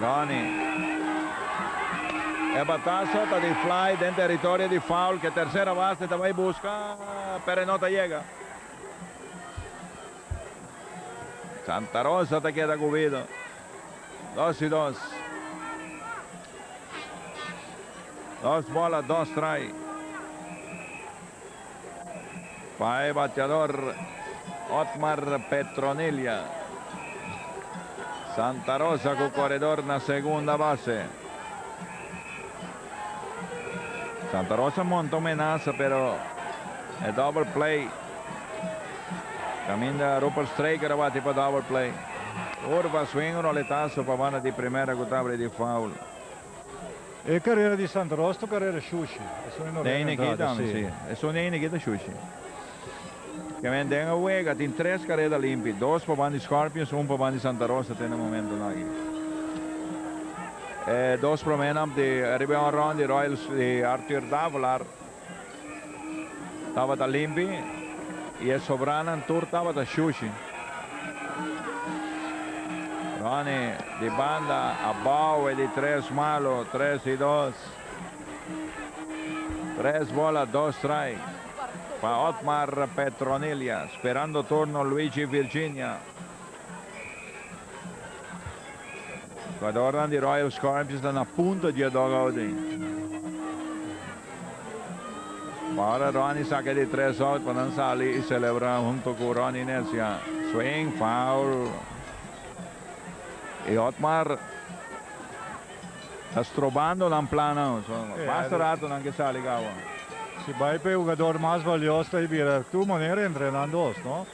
Ronnie. E bataso ta di fly den territorio di foul ke tercera base ta bai buska pero e no ta yega. Santa Rosa ta keda ku Wido. Dos i dos. Dos bola dos try. Pa e bateador Otmar Petronilla. Santa Rosa cu coredor na segunda base. Santa Rosa monta un menaza pero e double play caminda Rupert Straker a bati pa double play. Urba swing un roletazo pa banda di primera cu tabari di foul. E carera di Santa Rosa ta carera shushi. Esun e no Den rega entrada, Nikitan, si. si. Esun den e Nikitan shushi. Ke men den a wega tin tres carera limpi. Dos pa ban di Scorpions, un pa ban di Santa Rosa te na momentonan aki. E dos prome nan di, ariba e honron di Royals di Arthur Davalar. Tabata limpi y e sobranan tur tabata shushi. Ronny di banda a bouwe di tres malo, tres y dos. Tres bola, dos strike pa Otmar Petronilla, sperando turno Luigi Virginia. Jugadornan di Royal Scorpions ta na punto dje dugout ei. Pa ora Ronnie saka di tres out pa nan sali i celebra hunto ku Ronnie Necia. Swing, foul. I Otmar ta strobando nan plannan. So basta rato nan ke sali kawa. Si bai pa e hugador mas valios ta e bira tu manera entrenan dos, no?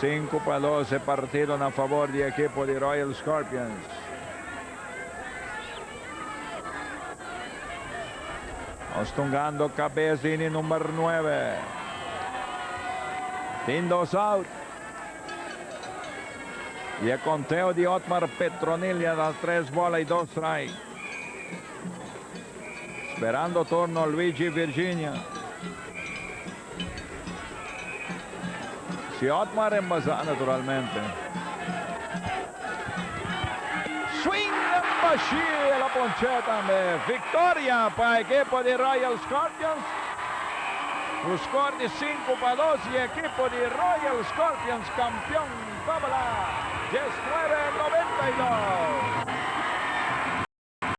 Sinku pa dos e partido na fabor di ekipo di Royal Scorpions. Nos tungando kabes di ini number nuebe. Tin dos out. Y e conteo di Otmar Petronil ya ta tres bola y dos strike. Sperando turno Luigi Virginia. Siot m'a rembaza naturalmente. Swing den bashi el a ponche tambe. Victoria pa ekipo di Royal Scorpions cu score di sinku pa dos y ekipo di Royal Scorpions campeon tabla dies nuebe noventa y dos.